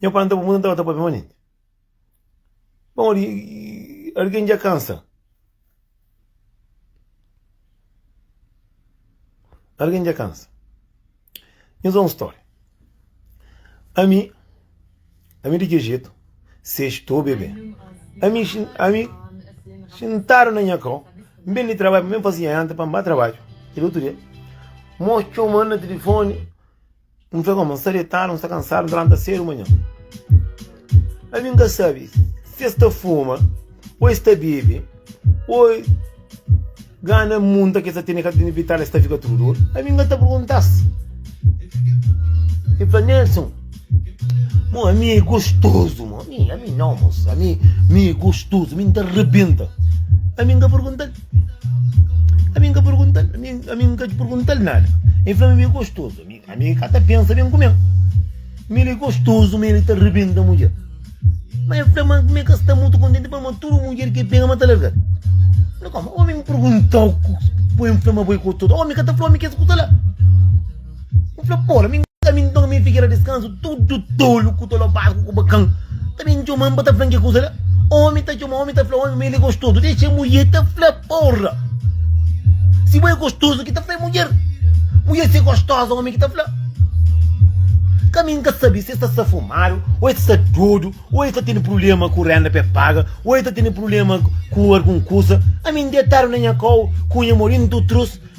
Nha pai ntaba muda, ntaba ta papia manenti. Bon, ora ki algen dja kansa, algen dja kansa, nhos da un stória. Ami, ami di txeu jetu, ses to bebe. Ami, ami xintadu na nha kau, N ben di trabadju, N ben fase nha janta pa N ba trabadju. Kel otu dia, mô txoma-m na tilifoni. N fla goma, N sta detadu, N sta kansadu, N ta lanta sédu manhan. Ami N ka sabe si es ta fuma, ô es ta bebe, ô gana munta ki es ta tene ka ta tene vital, es ta fika tudu dodu. Ami N ka ta pergunta-s. E fla, Nelson, mo, ami é gostozu, mo. Ami, ami nau, moça, ami, ami é gostozu, ami N ta rebenta. Ami N ka pergunta-l. Ami nka pergunta-l, ami, ami nka pergunta-l nada. Ele fla-mi, mi é gostoso. Ami, ami ka ta pensa bem kumê-l. Mi ele é gostoso, ma ele ta rebenta mudjer. Mas ele fla, ma kumê ka sta mutu kontenti, pa ma tudu mudjer ki el pega, ma ta larga-l. Fla, koma? Ome mi pergunta-u, poi-m fla ma bo é gostoso. Ome ka ta fla ome kes kusa la. N fla, Pô, la mi nka mi nton mi figera diskansu, tudu tolu ku ta lobadu ku kubakan ta ben txoma-m pa ta fla-m ke kuza la. Ómi ta txoma ómi, ta fla ómi ma el é gostozu. Dexa mudjer ta fla, Porra! Si bo é gostozu ki ta fla é mudjer. Mudjer ser gostoza ómi ki ta fla. Ka mi nka sabe si es ta sta fumadu, ô es ta sta dodu, ô es ta tene prubléma ku rénda pa e paga, ô es ta tene prubléma ku algun kuza. Ami N detadu na nha kau ku nha morintu trus.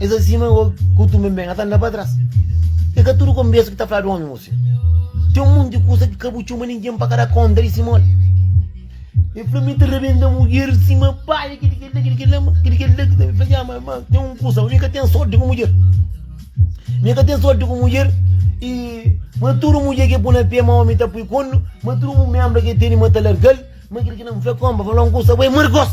Esa sima eu kutu ben ben, ata nda pa tras E ka tudu konbersa ki ta fladu omi mu se Ten un monti kusa ki ka bu txoma ningen pa ka da konta di si mol E fla mi ta rabenta mudjer sima paia kidi kel la kidi kel la ma kidi kel la ki ta mi fla dja ma ma ten un kusa ma mi ka ten sorti ku mudjer Mi ka ten sorti ku mudjer i ma tudu mudjer ke pu na pe ma omi ta pui konnu ma tudu bu membra ke teni ma ta largal ma kidi ki na mi fla konpa fla un kusa bo e markos.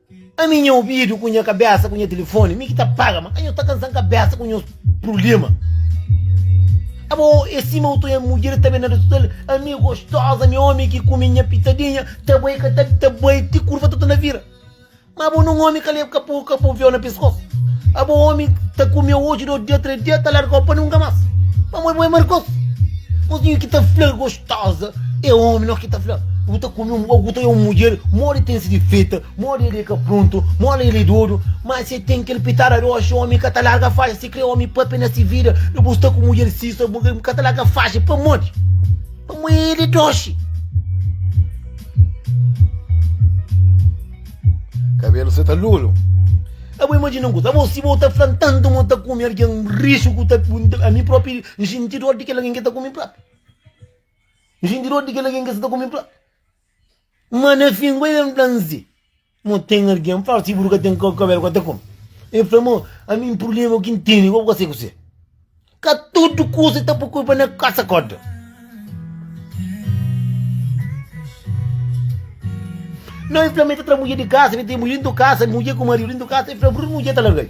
Ami nha obidu ku nha kabesa ku nha telefoni mi ki ta paga ma anho ta kansan kabesa ku nhos prulema abo e sima utu nha mudjer ta ben na resuta el ami gostoza mi omi ki kumi nha pitadinha ta bai ka ta bi ta bai ti kurva ta ta na vira ma abo nun omi ka leba ka po ka po veo na peskosu abo omi ta kumeu oji dôs dia três dia ta largau pa nunka mas pamodi bo é markosu nhozinho ki ta fla Tosa é omi no ki ta fla bu ta kume un bo bu ta un mudjer modi ten si difeta modi el é ka prontu modi el é dodu ma se ten kel pitada di oxi omi ka ta larga faxa si kre omi pape na si vida di bu sta ku mudjer si so bu ka ta larga faxa pamodi pamo el é doxi kabelu sa ta lolu abo imajina un kuza abo si bo ta fla tantu ma ta kume algen rixu ku ta ami propi nxinti dor di kel algen ki ta kume propi Nxinti di odi kel algen ki seta ku mi plat. Ma na fin ku el fla-m si, Mo ten algen fla-u si bu ka ten kabel ka ta kome. El fla, Mo, ami un purblema ki N tene ku bu ka sai ku se. Ka tudu kusa ki ta pui kulpa na kasa koda. Nau, el fla-m ma el ta tra mudjer di kasa, el ta mudjer ku maridu dintu di kasa. El fla, Bruno, mudjer ta larga-l.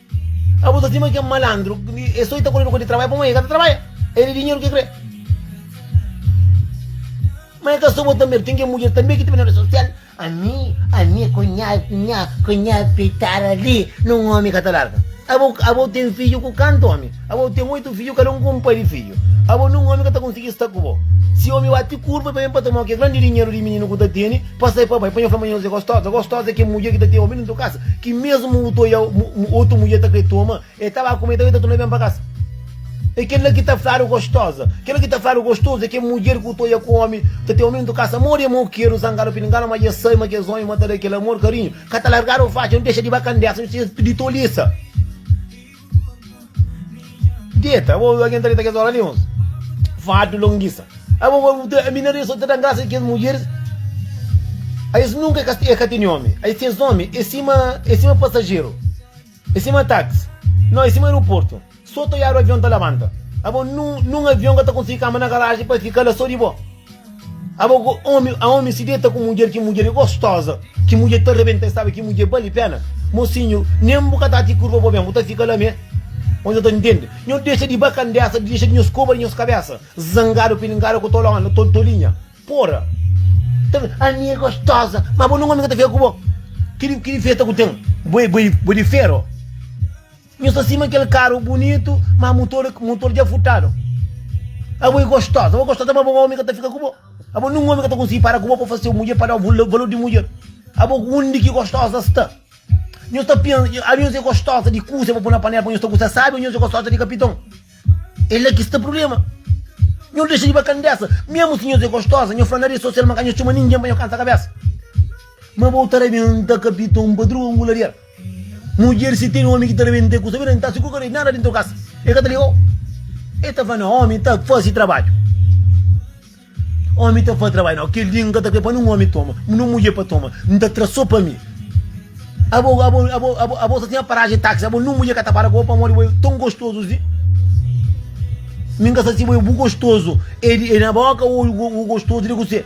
Abo ta stima ken malandru e soi ta koredu kua di trabalha pamodi e ka ta trabalha e di dinheru ke kre ma e ka so bo ta medu ten ken mudjer tambe ki ta ben na rede sosial ami ami ku nha nha ku nha fitar ali nun omi ka ta larga abo abo ten fiju ku kantu omi abo ten oitu fiju kada un ku un pai di fiju abo nun omi ka ta konsigi sta ku bo si omi bati kurpa e ta ben pa ta mau ke grandi dinheru di mininu ku ta teni Pasai pa bai, pa nha fla ma nhos é gostoza. Gostoza é kel mudjer ki ta ten omi dentu kasa, ki mesmu otu oiau, otu mudjer ta kre toma el, ta ba ku-me, ta bai ta tuna-me ben pa kasa. É kel la ki ta fladu gostoza. Kel la ki ta fladu gostozu é kel mudjer ki otu oia ku omi, ta ten omi dentu kasa. Amor é mau, keru zangadu pilinganu, ma dja sai ma kes omi mata-l. É kel amor, karinhu, ka ta largadu faci, nu dexa di ba kandesa, nu sedu di tolisa. Deta, abo algen ta deta kes óra li, uns fardu longisa. Abo mina li so ta da grasa di kes mudjeris, a es nunka e ka tene ómi. A es ten ómi e sima e sima pasajeru, e sima táksi, no e sima aeroportu. So ta oiadu avion ta labanta. Abo nun avion ka ta konsigi kama na garaji pa fika la so di bo. Abo ku omi, a omi si deta ku mudjer, ki mudjer e gostoza, ki mudjer ta rebenta e sabe ki mudjer bali pena. Mosinhu, nem bu ka ta ti kurva bo ben, bu ta fika la me. Omi sa ta ntende. Nho dexa di ba kandesa, dexa di nho skoba di nhos kabesa, zangadu, pilingadu ku tolo, ana, tol, tolinha. Pora. Ta ben, ami e gostoza, ma bo nun omi ka ta fika ku bo. Ki di, ki difesa ku ten? Bo e, bo e, bo e di fero. Nhos ta sima kel karu bunitu, má mutor mutor dja furtadu. Abo é gostosa, abo é gostosa, má abo un ómi ka ta fika ku bo. Abo nen un ómi ka ta konsigi para ku bo pa faze seu mudjer, pa da-u vul valur di mudjer. Abo undi ki gostosa sta? Nhos ta pensa, a nhos é gostosa di kuza pa poi na panela pa nhos ta gusta sábi ô nhos é gostosa di kapiton? É la ki sta prubléma. Nhos dexa di ba kandésa. Mésmu si nhos é gostosa, nhos fla na redi sosial ma ka nhos txoma ningen pa nhos kansa kabésa. Má abo ta rabenta kapiton pa drua un guladiera. Mudjer si ten omi ki ta da bende kusa bira nta si ku kare nada dinto kas e ka ta ligau e ta fla na omi ta fasi trabadju omi ta fasi trabadju nau kel dia nka ta kre pa nin omi toma nin mudjer pa toma nta tra so pa mi abo abo abo abo abo sa ten paraji taxi abo nin mudjer ka ta para ku bo pamodi bo e ton gostozu si mi nka sa si bo e bu gostozu e di e na boka o o gostozu di kuse.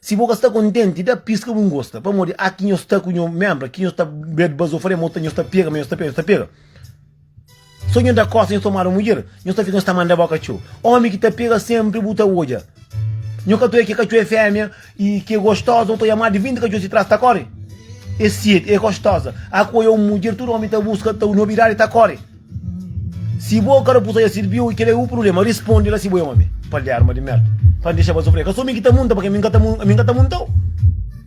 Si bo ka sta kontenti, da piska bu gosta, pamodi a ki nhos ta ku nho menbra, ki nhos ta bed bazo fre, mo ta nhos ta pega, ma nhos ta pega, nhos ta pega. So nhos da kosa, nhos ta mora mudjer, nhos ta fika, nhos ta manda boka txeu. Omi ki ta pega senpri bu ta odja. Nho ka ta odja ke katxo e femia i ke gostoza, nho ta odja ma di vinti katxo si tras ta kore. E siet, e gostoza. A ku oiou mudjer tudu omi ta buska, ta nobidadi ta kore. Si bo ka da pusa ya sirbiu i kel é bu prubléma, risponde la si bo é ómi. Paliarma di mérda. Pa N dexa-ba sufrê. Ka so mi ki ta munta, pa kima mi ka ta mun, ami ka ta munta-u?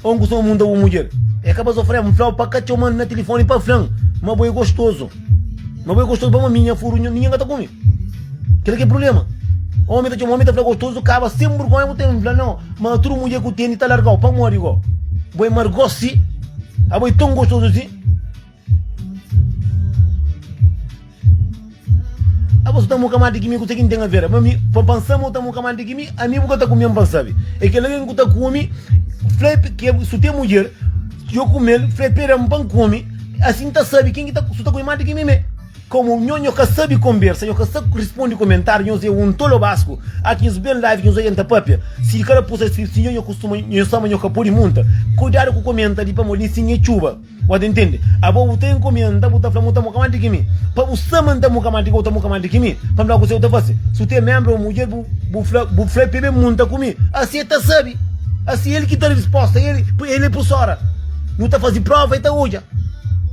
Ô N ku so munta bu mudjer? É ka ba sufrê-m. N fla-u pa ka txoma-m na tilifoni pa fla-m ma bo é gostozu. Ma bo é gostozu pamodi mi nha furu ningen ka ta kume. Kel ki é prubléma. Ómi ta txoma ómi, ta fla gostozu, kaba sen burgonha bu ten. N fla, Nau, ma tudu mudjer ku tene ta larga-u. Pamodi go bo é margosi? Abo é ton gostozu si? Abo su ta mo kamati ki mi kusa ki N ten aver ama mi pa pansa ma u ta mo kamati ki mi ami bu ka ta kume-m pa sabi e kel algen ku ta kume fla e ke su ten mudjer yo kume-l fla e peda-m pa N kume asin N ta sabi ken ki ta su ta kume mati ki mi me komo nho nho ka sabi konbersa nho ka sabi risponde komentar nhos e un tolo basku aki nhos ben live nhos oja N ta papia si kada pusa skritu si nho nho kustuma nho sama nho ka podi munta kuidadu ku komenta li pamodi N siña e txuba. Pode ntende. Abo bu ta inkomi an, nta bu ta fla ma bu ta muka mas di ki mi? Pa bu sta ma nta muka mas di ki bo ta muka mas di ki mi? Pa nta kuse bu ta fase? Si bu ten membri o mudjer bu, bu fla, bu fla pebe mu nta kumi. Asi e ta sabi. Asi el ki ta da risposta, el, el e pusora. Nu ta fase prova e ta odja.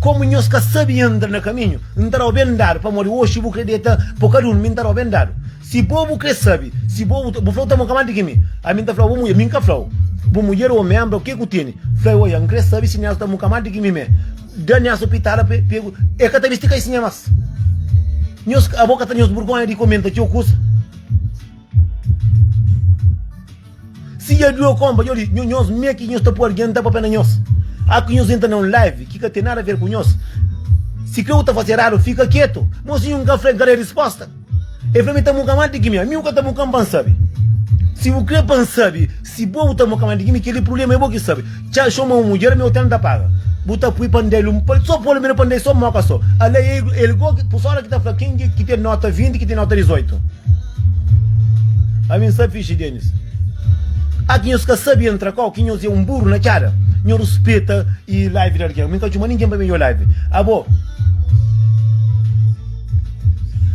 Komu nhos ka sabi andra na kaminhu, N ta da bo ben dadu, pamodi oxi bu kre deta po ka durmi, N ta da bo ben dadu. Si bo bu kre sabe, si bo bu ta, bu flau ta mo ka mante ki mi. Ami N ta flau bo mudjer, mi N ka flau bu mudjer omi enbra o ke ku tene. Fla e oia, N kre sabe si Niaso ta mo ka mante ki mi me. Da Niaso pitada pe pe ku, e ka ta bisti kaisinha mas. Nhos, abo ka ta nhos burgonha di komenta txeu kusa? Si dja dua konpa djo li nhos mê ki nhos ta pua argen ta papia na nhos a ki nhos entra na un live ki ka ten nada ver ku nhos si kre u ta fasi eradu fika ketu ma si nhun ka fre kal é risposta e fla mi ta muka mal di kimi ami u ka ta mukan pa n sabi si u kre pa n sabi si bo u ta muka mal di kimi keli prulema é bo ki sabi. Txá xo ma un mudjer mi otel n ta paga Bu ta pui pa n da-l un pal so Pô-l mi na pa n da-l so móka so Alé e i el go Pusola ki ta fla Ken di ki ten nóta vinti Ki ten nóta dizoitu Ami n sa fixi Denis Â ki nhos ka sabe entra kau Ki nhos é un buru na txada Nho ruspeta i live di algen Mi n ka txoma ningen pa mi odja live Abo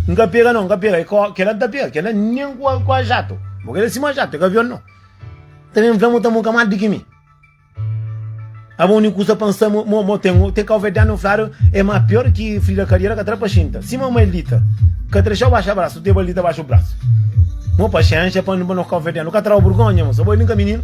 N ka pega nau N ka pega Kel la n ta pega Kel la nen ku ajatu Bo kel la sima ajatu É ka avion nau. Ta ben fla-m, N ta mon ka mal di ki mi. Aba undi kusa pa N sta, mo, mo, mo ten, ten kauverdianu fladu e ma pior ki frida kadiera ka tra pa xinta. Si ma maildita ka tra xau baxa brasu, te baldita baxa brasu. Mo paxenxa pa, pa nos kauverdianu ka trau burgonha, mosa. Bo, el inka mininu.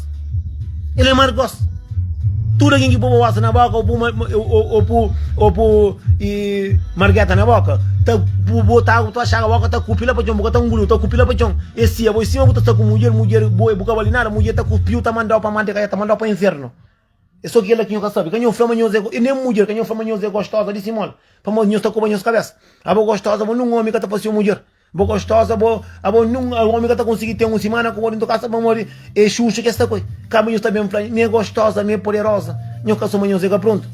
Ele é mar gos Tudo alguém que pôr babosa na boca ou pôr, ou, ou, pôr, ou pôr e, margueta na boca tá pôr botar água tá chaga boca tá cupi lá para chão boca tá engoliu tá cupi lá para chão e se a você você tá com mulher mulher boa boca vale nada mulher tá cupiu tá mandou para manteiga já tá mandou para inferno é só que ela que eu quero saber que eu flama nhosa e nem mulher que eu flama nhosa é gostosa disse mole para nós tá com nhosa cabeça a boa gostosa mas não homem que tá para ser mulher Bo gostosa bo abo nun a omi ka ta konsigi ten un simana ku bo dentu kasa pamodi e xuxa ki e sta ku el ka minhos ta ben fla mi e gostosa mi e poderoza nhos ka so manhos e ka prontu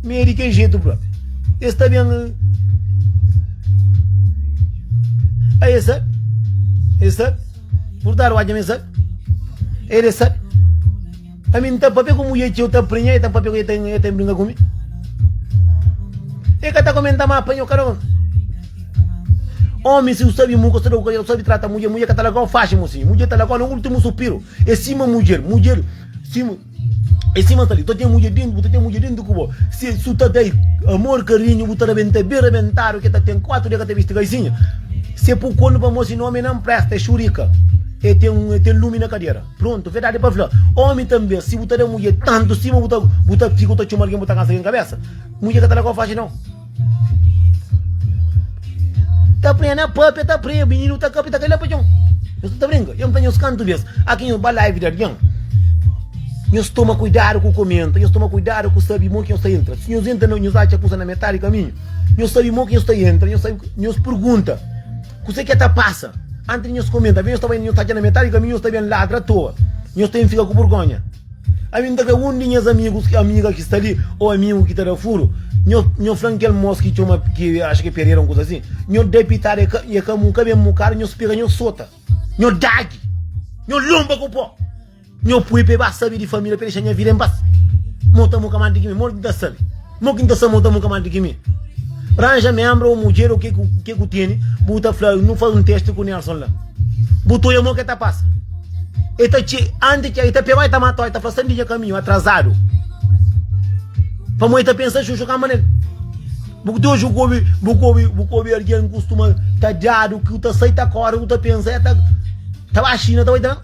mi e di kel jetu propi e sta ben a e sabi e sabi purtadu odja mi sabi el e sabi Ami n ta papia ku mudjer txeu ta prenha e ta papia ku el, el ta brinka ku mi. El ka ta komenta ma prenha-u kada un. Omi, si bu sabe muka, sta da ku kazal, bu sabe trata mudjer, mudjer ka ta lagau faxi mosinhu, mudjer ta lagau na ultimu supiru. E sima mudjer, mudjer sima, e sima sta li, bu ta ten mudjer dentu, bu ta ten mudjer dentu ku bo. Si el su ta da-i amor, karinhu, bu ta rabenta ben rabentadu, ki el ta ten kuatu dia ka ta bisti kaisinha. Si el pui konu pa mosinhu, omi na n presta, e xurika, e ten, e ten lumi na kadera. Prontu, verdadi pa fla, omi tanbe, si bu ta da mudje tantu stima, bu ta bu ta fika, bu ta txoma algen, bu ta kansa algen kabesa. Mudje ka ta da kau faxi nau. Ta prenha na papia, ta prenha, mininu ta kapta, ka la pa txon. Nhos ta brinka, yo mta nhos kantu bes, aki nhos ba live di algen, nhos toma kuidadu ku komenta, nhos toma kuidadu ku sabi mon ki nhos ta entra, si nhos entra, nhos atxa kusa na metadi kaminhu, nhos sabi mon ki nhos ta entra, nhos sabi, nhos pergunta. Kuse ki é ta pasa? Antis di nhos komenta, avi nhos ta bai na nhos tatxa na metadi di kaminhu, nhos ta ben ladra a toa. Nhos ta ben fika ku burgonha. Ami N ta kre un di nhas amigus ki amiga ki sta li o amigu ki ta da furu. Nho nho fla-m kel mos ki txoma ki axa ki é Pereira un kuza asin. Nho da-i pitada e ka e ka mu ka ben mu kara, nho spira, nho sota, nho dagi, nho lonba ku po. Nho pui pa e ba sabi di família pa e dexa nha vida en pas Mo ta muka más di ki mi Mo ki N ta sabi Mo ki N ta sabi Mo ta muka más di ki mi Ranja ménbra ô mudjer ô ke ke ku tene Bu ta fla nu faze un teste ku Nelson la Bu ta odja mo ke ta pasa E ta txe anti txe e ta pegau e ta matau e ta fla sai di nha kaminhu atrazadu Pamo e ta pensa xuxu kamba nel Bu ku ta odja ku obi bu ku obi bu ku obi algen kustuma ta djadu ku ta sai ta kore ku ta pensa e ta ta ba Xina ta bai ta.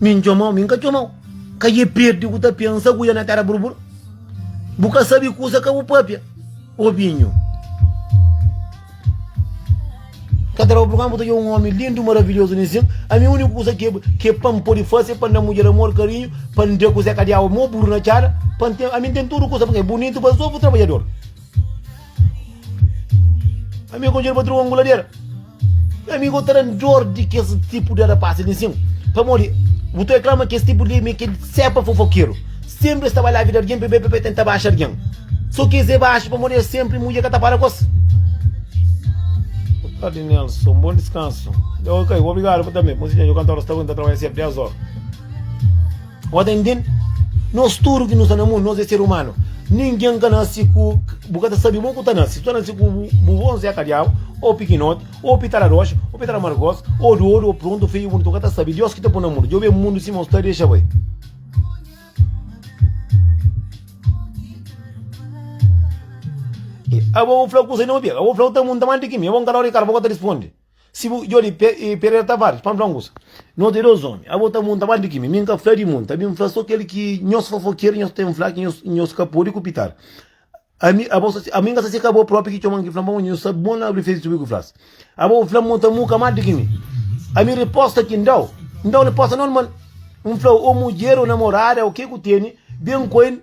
Mi n txomau, mi n ka txomau. Ka e perde ku ta pia nsaguia na tera burbur. Bu ka sabe kusa ka bu papia, obinhu. Ka ta daba purkama bu ta djobe un omi lindu, maravilhozu ninsin. Ami uniku kusa ke ke pa n pode fase pa n da mudjer amor, karinhu, pa n da kuze ka diaba mo buru na txada, pa n ten, ami n ten tudu kusa, purke e bunitu pa sofru trabadjador. Ami konjel pa tru angulader. Ami go taran dor di kes tipo de rapaz ali sim. Pamodi bu ta reclama que esse tipo de me que sepa fofoqueiro. Sempre estava lá a vida alguém, bebê, bebê, tenta baixar alguém. Só que esse baixo para morrer sempre, mulher que tá para com Tarde, Nelson. Bom descanso. Ok, obrigado por também. Bom dia, eu canto horas, tá aguentando trabalhar sempre 10 horas. Ora ta intende? Nos tudu ki nu sta na mundu, nos é ser umanu. Ningen ka nase ku. Bu ka ta sabe bon ku ta nase. Si bu ta nase ku bu vó, N Zé Kadiabu, ô pikinoti, ô pitala roxa, ô pitala margosa, ô di odu, ô prontu, ô feyu, ô bunitu, bu ka ta sabe. Diós ki ta pô-u na mundu. Djobe mundu sima un sta, dexa bai. Abo bu fla kusa di un obi? Abo bu fla otu mundu ta manda di kimi? Abo N ka da obi karba, bo ka ta risponde. Si bu jodi Pereira Tavares, pa fla usa, nos é dos omi, abo ta munta bal di kimi? Mi nka fla di munta, mi fla so kel ki nhos fofoker nhos ten fla ki nhos ka podi kupitar. Ami, abo, ami nka sa si ka abo propi ki txoman ki fla, pamodi nhos sabi bon abri fesi tubi ku flas. Abo fla mon ta muka mal di kimi? Ami riposta ki ndau, ndau riposta normal. Nfla o mudjer o namorada o ke ku teni ben ku el,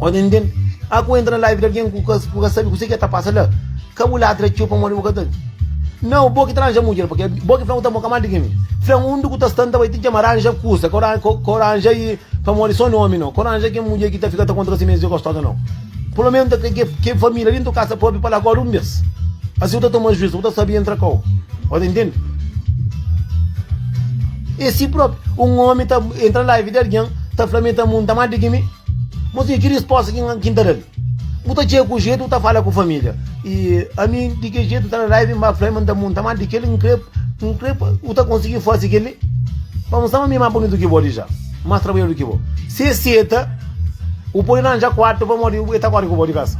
Odi nden a ku entra na live di algen ku ka ku ka sabi kuse ki e ta pasa la. Ka bu ladra txeu pamodi bu ka ta Nau, bo ki ta ranja mudjer pake bo ki fla ku ta mo ka mal di kimi. Fla un di ku ta stanta bai ti djama ranja kusa ka ora ka ora ranja i pamodi so nomi nau. Ka ora ranja ken mudjer ki ta fika ta kontra si mes e gostosa nau. Pelo menos ta ke ke família dentu kasa propi pa la acorda un bes. Asi bu ta toma juiz bu ta sabi entra kau. O ta ntende? E si propi un omi ta entra na live di algen ta fla mi ta munta mal di kimi. Mozinha, ki risposta ki N ta da-l? Bu ta txega ku jetu ta fala ku família. I ami di ki jetu ta da raiva i N ba fla-l ma N ta monta má di kel-li N krê, N krê pa bu ta konsigi faze kel-li pa nu. Sta ma mi é más bonitu ki bo dja, más trabadjadur ki bo. Si el seta, bu pode ranja kuartu pamodi el ta kóre ku bo di kasa.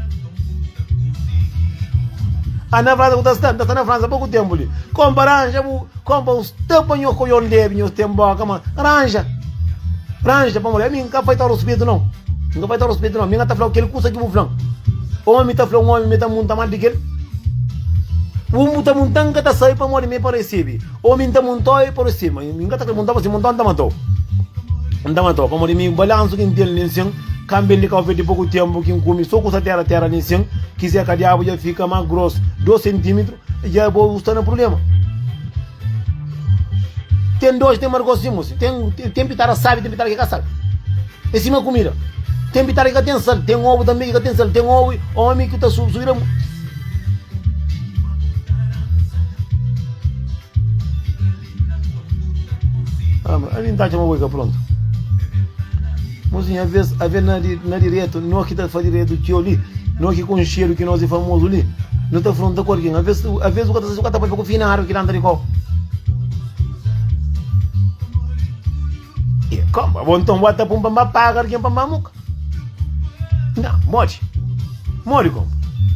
Ana, Fransa, bu ta sta? N ta sta na Fransa poku ténpu li. Kómu pa ranja bu? Kon pa us ta pa nho ko yon debi nho ten boka ma ranja ranja pa mole mi nka fai ta ruspitu non nka fai ta ruspitu non mi nga ta flau kel kusa ki bu flan omi ta fla un omi mi ta munta mal di kel un bu ta munta nka ta sai pa mole mi pa risibi omi nta munta e pa risibi ma mi nka ta kre munta pa si munta nta matou nta matou pa mole mi balansu ki ntel nin sin kambel di kau fe di poku tempu ki nkumi so kusa tera tera nin sin kizé ka diabu ja fika ma gros 2 sentimetro Dja é bo bu sta na prubléma. Ten doxi, ten margosi, ten mosi. Ten, ten, ten pitada sabi, ten pitada ki ka sabi. É sima kumida. Ten pitada ki ka ten sal, ten obu tanbe ki ka ten sal, ten obu omi ki ta su, subida. Ama, a mi n ta atxa ma bo i ka prontu. Mozinha, avês avê na, na diretu, nós ki ta fa diretu txeu li, nós ki konxedu ki nós i famozu li, nu ta fronta ku algin. Avês, avês bu ka ta sabe si bu ka ta papia ku finadu ki ta anda di kau. E kamba, bo nton bota pun pa mba paga argen pa mba muka. Nga, modi? Modi kamba?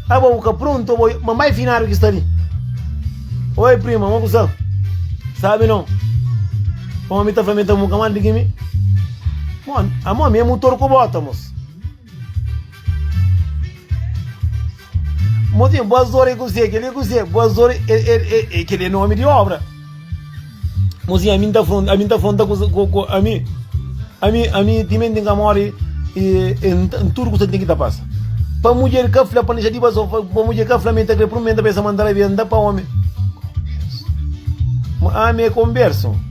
Abo bu ka pronto, bo ma mai finado ki sta li. Oi prima, mo kusa? Sabi non. Kama mi ta fla mi ta muka mandi ki mi. Mon, amon mi é mutor ku bota, mos. Mozinho, bos dor é kuzê? Kel-li é kuzê? Bos dor é... Kel-li é nomi di obra. Mozinho, ami n'ta fronta, ami n'ta fronta ku, ku, ku, ami, ami, ami timenti n'ka mori, e, e n'tudu kusa ki ten ki ta pasa. Pa mudjer ka fla, pa n'dixadiba so, pa mudjer ka fla mi n'ta kre, prun mi n'ta pensa ma n'ta rabia, n'ta pa omi. Ami é konbersu.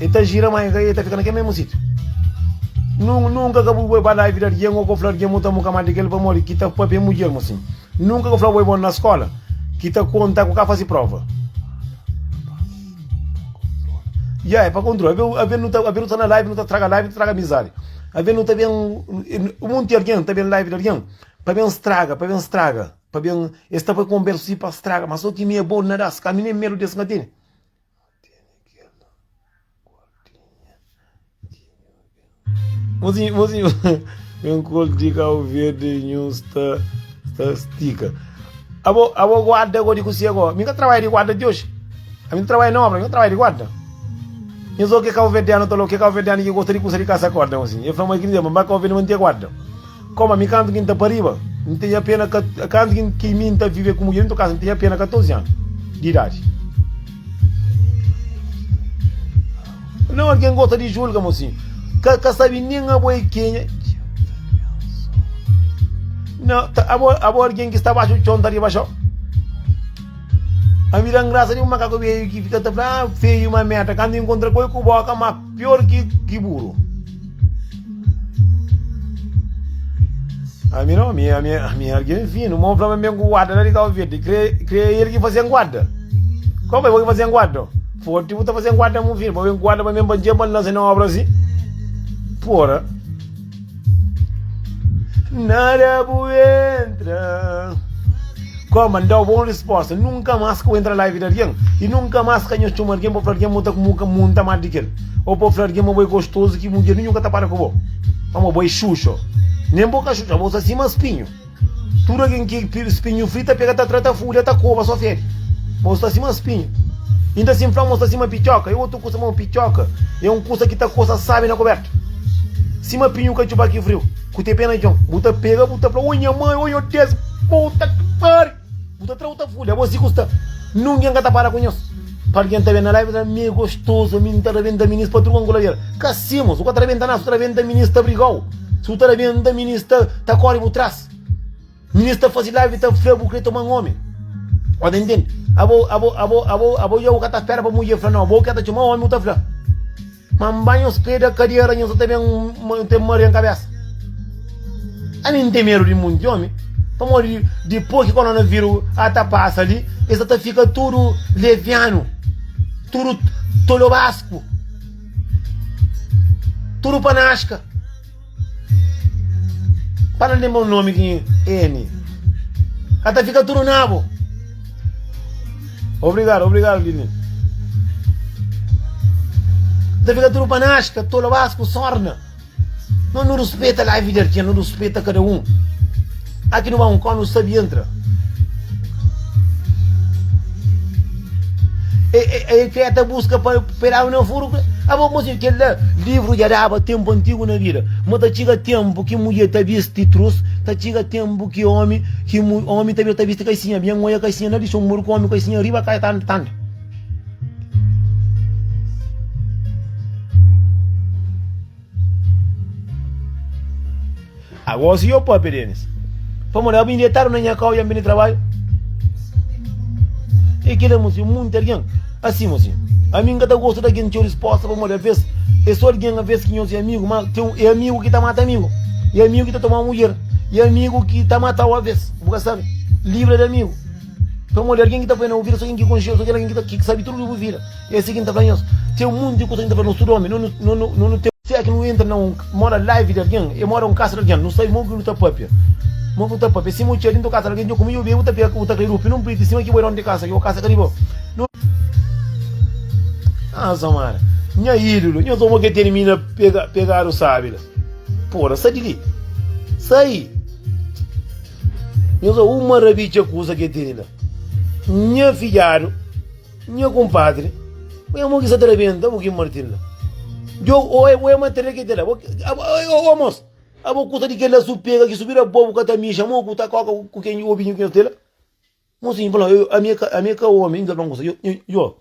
E ta jira ma e ta fika na kel mésmu sítiu. Nunka ka bu bai ba laivi di algen ô ka bu fla algen ma bu ta muka mal di kel pamodi ki ta papia mudjer ma sin. Nunka ka bu fla bo é bon na skóla ki ta konta ku ka faze próva. Ya, é pa kontrola. Alvês nu ta sta na laivi, nu ta straga laivi, nu ta straga amizadi. Alvês nu ta ben, monti algen ta ben na laivi di algen pa ben straga, pa ben straga. Pa ben, es ta bai konbérsa si pa straga. Má so ki mi é bon na da-s. Ka mi nen medu di es ka tene. Mozinhu, mozinhu, un kol di kau verde nhun sta, sta stika. Abo, abo guarda go di kusi ago. Min ka trabalha di guarda di hoje. A min trabalha na obra, min trabalha di guarda. Min zo ke kau verdeano talo, ke kau verdeano ki gosta di kusa di kasa korda, mozinhu. E fla, mas ki dizer, mba kau verde mante guarda. Koma mi kantu ki N ta pa riba, N tene apena, kantu ki mi N ta vive ku mudjer, N ta kasa, N tene apena 14 anu di idadi. Não, alguém gosta de julga, mocinho. Cá, cá sabe nem a boa quem é. Não, tá, a boa, a boa alguém que está baixo do chão, tá de baixo. A mira graça de um macaco veio que fica tá, ah, feio uma merda. Quando encontra coisa com boca, maco. Pior ki ki buru. Ami não, ami, ami, ami ergue é fino. Mão flama bem guarda lá de Cabo Verde. Crê, crê ele que fazem guarda. Como é que fazem guarda? Forte, você fazem guarda, meu filho. Para bem guarda, para bem bandia, para lançar na obra assim. Porra. Nada bu entra Kua mandau bon resposta Nunka mas kua entra live di argen E nunka mas ka nha txoma argen pa fla argen mu ta ku mu ka mu nta mal di kel Ou pa fla argen ma bo é gostozu ki mudjer ninhu ka ta para ku bo Pamó bo é xuxo Nen bo ka xuxo abo sa sima spinhu Tudu algen ki spinhu fri ta pega ta tra ta fúria ta koba so fede. Bo sta sima spinhu. Inda si N fla mo sta sima pitioka, é otu kusa, ma pitioka é un kusa ki ta kosa sábi na kubértu. Sima pinhu katxupa ki friu, ku te pé na txon, bu ta pega, bu ta fla, Ô nha mai, ô nha Deus, puta ki pariu! Bu ta tra u ta fudi abo si ku sta nungen ka ta para ku nhos pa algen ta ben na live ta da mi gostoso ami n ta rabenta minis pa truka nku labial ka si mos bu ka ta rabenta na su ta rabenta minis ta brigau su ta rabenta minis ta ta kori bu tras minis ta fazi live ta fla bu kre toma omi o ta intendi abo abo abo abo abo jau ka ta spera pa mudjer fla no abo ka ta txoma omi bu ta fla. Ma N bai nha ospeda ka di aranha so ta ben N ta maria N kabesa ami N ten medo di munti omi pamodi dipos ki koronaviru a ta pasa li e sa ta fika tudu levianu tudu tolobasku tudu panaska Para de lembra un nomi ki N ka ta fika tudu na bo. Obrigado, obrigado Dini. Ta fika tudo para nós, que tola vasco sorna. Não nos respeita lá, vida que não respeita cada um. Tá ki nu ba un kó nu sabi entra e e kre ta buska pa e daba na furu kre abo mo si kel la livru dja daba tenpu antigu na bida ma ta txiga tenpu ki mudje ta bisti trus ta txiga tenpu ki omi ki omi ta bida ta bisti kaxinha bia ngoia kaxinha na dixon muru ku omi kaxinha riba kai tanta tanta Agora se eu papia Denis Pamodi abo indetadu na nha kau i anbe di trabaiu E kila mo si munti argen Asin mo si Ami nka ta gosta di argen txeu disposta Pamodi aves e so argen aves ki nho si amigu ma txeu e amigu ki ta mata amigu e amigu ki ta toma mudjer e amigu ki ta matau aves bu ka sabi Libra di amigu Pamodi argen ki ta poi na bu vida so ken ki konxeu so kel argen ki ta ki sabi tudu di bu vida. É assim ki N ta fla nhos, Ten un monti di kusa ki N ta fla nos tudu omi, no no no no no ten. Si é ki nu entra na un, mora live di algen, e mora un kasa di algen, nu sabe mo ki nu ta papia, mo ki nu ta papia. Si mo txia dintu kasa di algen, djo ku mi, djo bia, bu ta pega, bu ta kleri opinion pui di sima ki bo é donu di kasa ki bo, kasa ka di bo. Nu. Ah Samara, nha idulu, nhos omo ke termina pega, pegadu sabi la. Pora, sa di li, sai. Nhos o un marabidja kusa ke teni la. Nha fidjadu. Nha kunpadri, bo é mon ki sa ta rabenta, bu ki martin la. Djo, o é, o é matéria ki tela. Bo, o, o mos, abo kusa di kela su pega ki su bira bo, bu ka ta mixa mo ku ta koka ku ken djo, obinho ken tela. Mosinho fala, yo, ami é ka, ami é ka omi, nda fla-m kusa. Yo, yo, yo,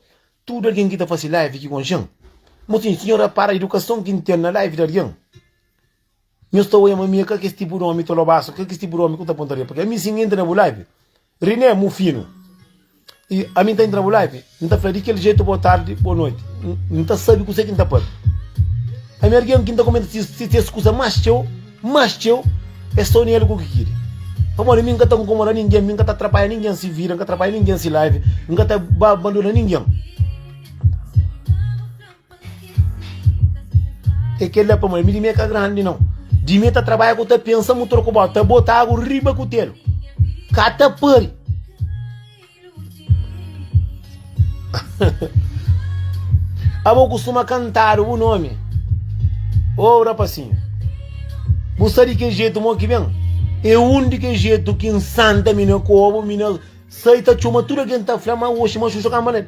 tudu algen ki ta fase live ki konxen, mosinho, si nho rapara idukason ki N ten na live di algen, Nhos ta oia ma mi é ka kes tipu di omi, ta lobaso, ka kes tipu di omi ku ta punta riba pa kila. Ami si N entra na bu live, Riné, mu finu, i ami N ta entra na bu live, N ta fla di kel jetu bo tardi, bo noti, N ta sabi kuse ki N ta papia. Ami algen ki N ta kumenta si ses kusa mas txeu, mas txeu, é so nel ku ki kiri. Pamodi mi N ka ta nkomoda ningen, mi N ka ta atrapalha ningen si vida, N ka ta atrapalha ningen si live, N ka ta ba bandona ningen. É kel la pamodi mi di mi é ka grandi nau. Di mi é ta trabadja ku ta pensa mu troku bota, ta bota agu riba kutelu. Ka ta pari. Abo kustuma kantadu bu nomi. Ô oh, rapasinho. Bu sa di ke jeito mo ki ben? É um de que jeito que insanta mina como mina sai tá chuma tudo quem tá flama hoje mas o jogar mané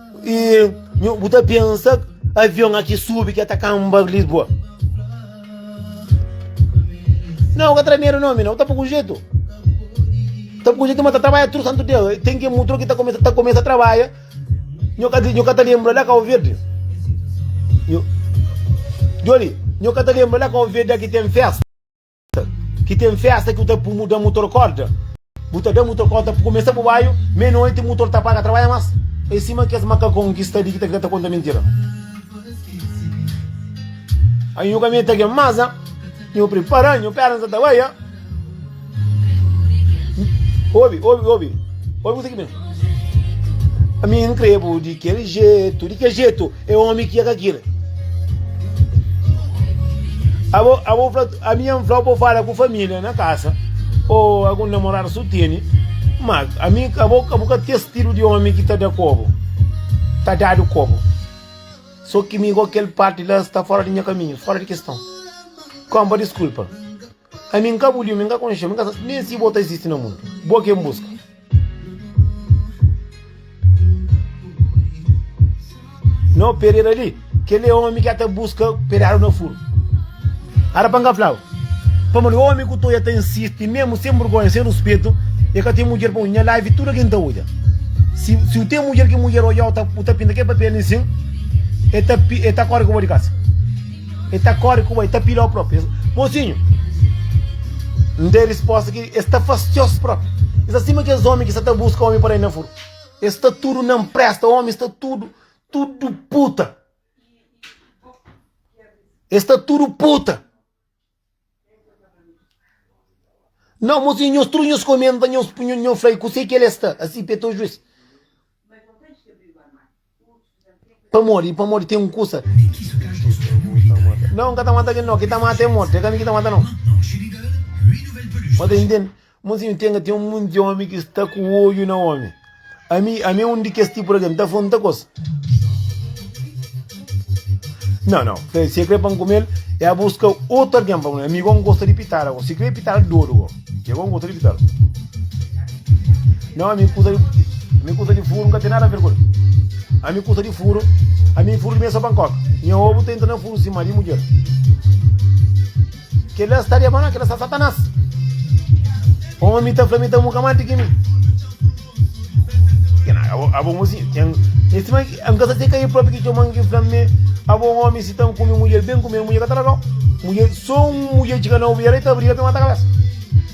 E nhu, bu ta pensa avion aqui subi que ta camba Lisboa. Não, que tremeiro não, mina, tá pouco jeito. Tá pouco jeito, mas tá trabalha tudo santo dia. Tem que mudar que tá começa, tá começa a trabalhar. Nhu ka nhu ka ta lembra lá Cabo Verde. Nhu Joli, nhu ka ta lembra lá Cabo Verde aqui tem festa. Ki ten festa ki bu ta pumuda da mutor korda bu ta da mutor korda pa kumesa bu baiu me noite mutor ta paga trabadja mas e sima kes makakon ki sta di ki ta krê ta konta mintira ai nhu kaminha ta gen mas nhu pripara nhu pernas ta baia obi obi obi obi kuzê ki ben a mi n krê bu di kel jetu di kel jetu É omi ki é ka kira. Abo, abo fla, ami ya fla bo fala ku família na kasa, o algun namorada su teni, ma ami, abo, abo ka tes stilu di omi ki ta da kobo, ta dadu kobo. So ki mi ko kel parti la sta fora di nha kaminhu, fora di keston. Kompa diskulpa. Ami n ka bu liu, mi n ka konxeu, mi n ka sa nen si bo ta izisti na mundu. Bo ki N buska. N obi pereira li, kel é omi ki a ta buska pereadu na furu. Ara pa N ka flau, pamodi omi ku toi a ta insisti mesmu sen burgonha, sen ruspetu, e ka ten mudjer pa odja. Nha live tudu algen ta odja. Si si u ten mudjer ki mudjer odjau ta u ta pinta kel papel li sin, e ta e ta kori ku bo di kasa. E ta kóre ku bo, e ta pila-u própi. Mozinhu, N da-i respósta ki es ta fastiozu própi. E sta sima kes ómi ki sta ta buska ómi pa da-i na furu. E sta tudu na nprésta, ómi sta tudu, tudu puta. E sta tudu puta. Não, mozinho, nhos tru nhos comenta, nhos punho nhon fly, ku sei que ele está, assim pé tô juiz. Pa modi, pa modi tem um cusa. Não, nka ta mata aquele não, que ta mata é morto, é kami que ta mata não. Mata entende? Monsinhu Tenga ten un monti omi ki sta ku odju na omi. Ami, ami é un di kes tipu di algen. N ta fla-m ta kosa. Nau, nau. Fla el, si e krê pa N kume-l, e a buska otu algen pa kume-l. Ami go N gosta di pitada go. Si krê pitada dodu go. E go N gosta di pitada. Nau, ami kusa di, ami kusa di furu N ka ten nada a ver ku el. Ami kusa di furu, ami furu di mel é só pankoka. Nha obu ta entra na furu sima di mudjer. Kel-la sta diabanal, kel-la sta Satanás. Poma mi ta fla, mi ta mu kamá di ki mi. Abo mo si, tem, esse man, am gasta te kai próprio que te man que flamme, abo um homem se tam come mulher bem comer mulher catalogão. Mulher, só um mulher de canal, mulher aí tá briga para matar a cabeça.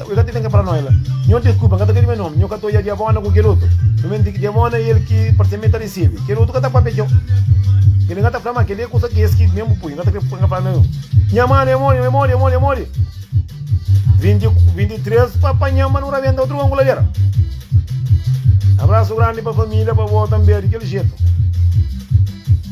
Yo ka ta ten ke fala noi la. Nho deskulpa, N ka ta krê di me nomi. Nho ka ta odja diabona ku kel otu. Sumenti ki diabona i el ki parse-m e ta resebe. Kel otu ka ta papia txeu. Kel li N ka ta fla ma kel-li e kusa ki es ki ben bu pui. N ka ta krê N ka fala noi. Nha mano e mori, e mori, e mori, e mori. 2023 pa panha-m pa nu rabenta otu kongulader. Abrasu grandi pa familia pa bo tanbe di kel jetu.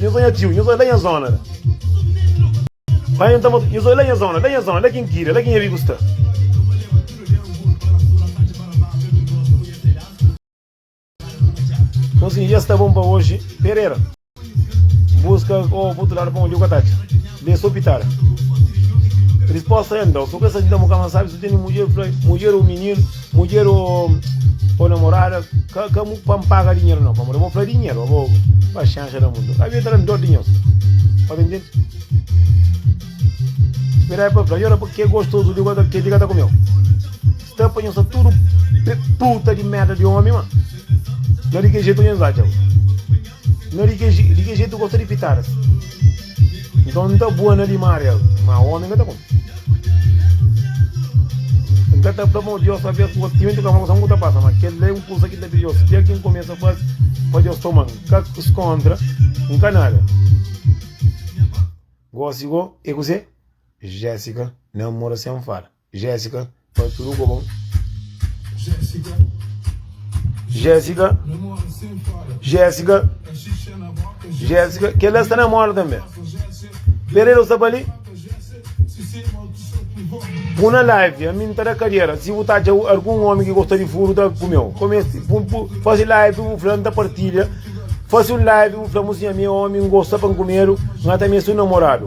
Nhos oi nha tio, nhos oi la nha zona la. Mai un ta mot, nhos oi la nha zona, la nha zona, la ki N kira, la ki nha amigu sta. Nhos sin dja sta bon pa oji, Perera. N buska o pa otu ladu pa onju ka ta atxa. Be so pitara. Risposta N dau so ku es aji ta mo ka ma sabi, so tene mudjer, fla mudjer o mininu. Mudjer ô namorada ka ka mu pa N paga dinheru nau pamodi abo fla dinheru abo paxénxa da mundu ka avia ta da-m dor di nhos pa ta intende spera el pa fla nhos ke gostozu di goza kenti ka ta kumeu sta pa nhos sta tudu puta di merda di omi ma na di ke jetu nhos atxa bo. Na di ke, di ke jeito gosta di pitadas. Então nta boa na di Maria, ma homem ka ta come. Nka ta fla ma Deus talvez ku gosta, timenti ka fla kusa ku ta pasa, ma kel la é un kusa ki ta pidi Deus fia kin kumesa fasi pa Deus toma, nka skontra, nka nada. Gosi go é kuzê? Jessica namora sen fala. Jésica, pa tudo co bom. Jésica, Jésica, Jésica, Jésica, que ela está na moda também. Pereira está ali. Puna live, a mim tá da cadeira. Se você tá de algum homem que gosta de furo, tá com meu. Comece, faz live, o fulano tá partilha. Faz um live, o fulano, assim, a minha homem gosta para comer, não tá mesmo namorado.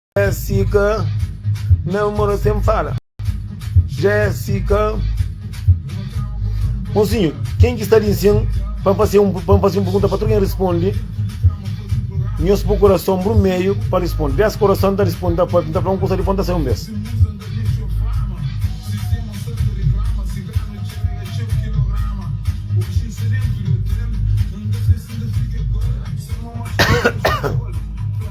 Jésica, Mel mora sem fala. Jésica, Mocinho, quem que está ali sim? Para fazer um, para fazer um pergunta para todo quem responde. Nhos por coração pro meio para responder. Dez coração tá respondendo, tá para tá para um coisa de ponta sem um mês.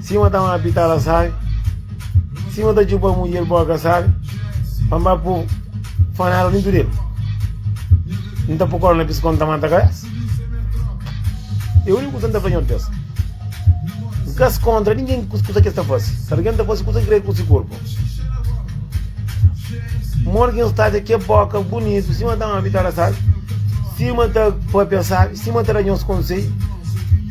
Sima ta ma pita la sabe Sima ta txupa mudjer boka sabe Pa mba pu fanela dintu del N ta pu korna pis kon ta mata kabesa É uniku kusa N ta fla nhos bes N ka es kontra ningen ku kusa kes ta fase Si algen ta fase kusa ki krê ku si korpo Morgen Stasia ke boka bunitu Sima ta ma pita la sabe Sima ta papia sabe Sima ta da nhos konsei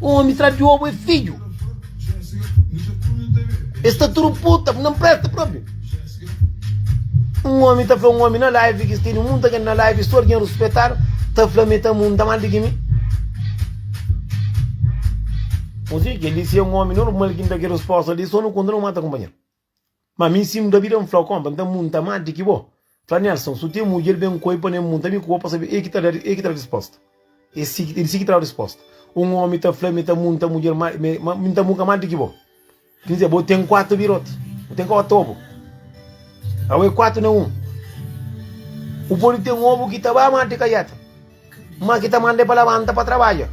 Omi tra Diobu e fidju. Es ta turu puta, bu na mpresta propi. Un omi ta fla un omi na live ki teni munta gen na live, stor gen ruspetadu, ta fla mi ta munta mal di ki mi. Muzi, kel li si e un omi normal ki n da ki rusposta li, so nu konta nu mata kunpanheru. Ma mi si mda bida mfla konpa nta munta ma di ki bo fla nelson su ten mudjer ben koi pa ne munta mi ku bo pa sabe el ki ta da el ki ta da risposta e si e di si ki ta da risposta un omi ta fla mi ta munta mudjer ma me ma mi nta munka ma di ki bo ki dizer bo ten kuatu biroti bo ten ka otu obu awe kuatu ne un u podi ten obu ki ta ba ma di kaiata Ma ki ta manda-i pa labanta pa trabadja.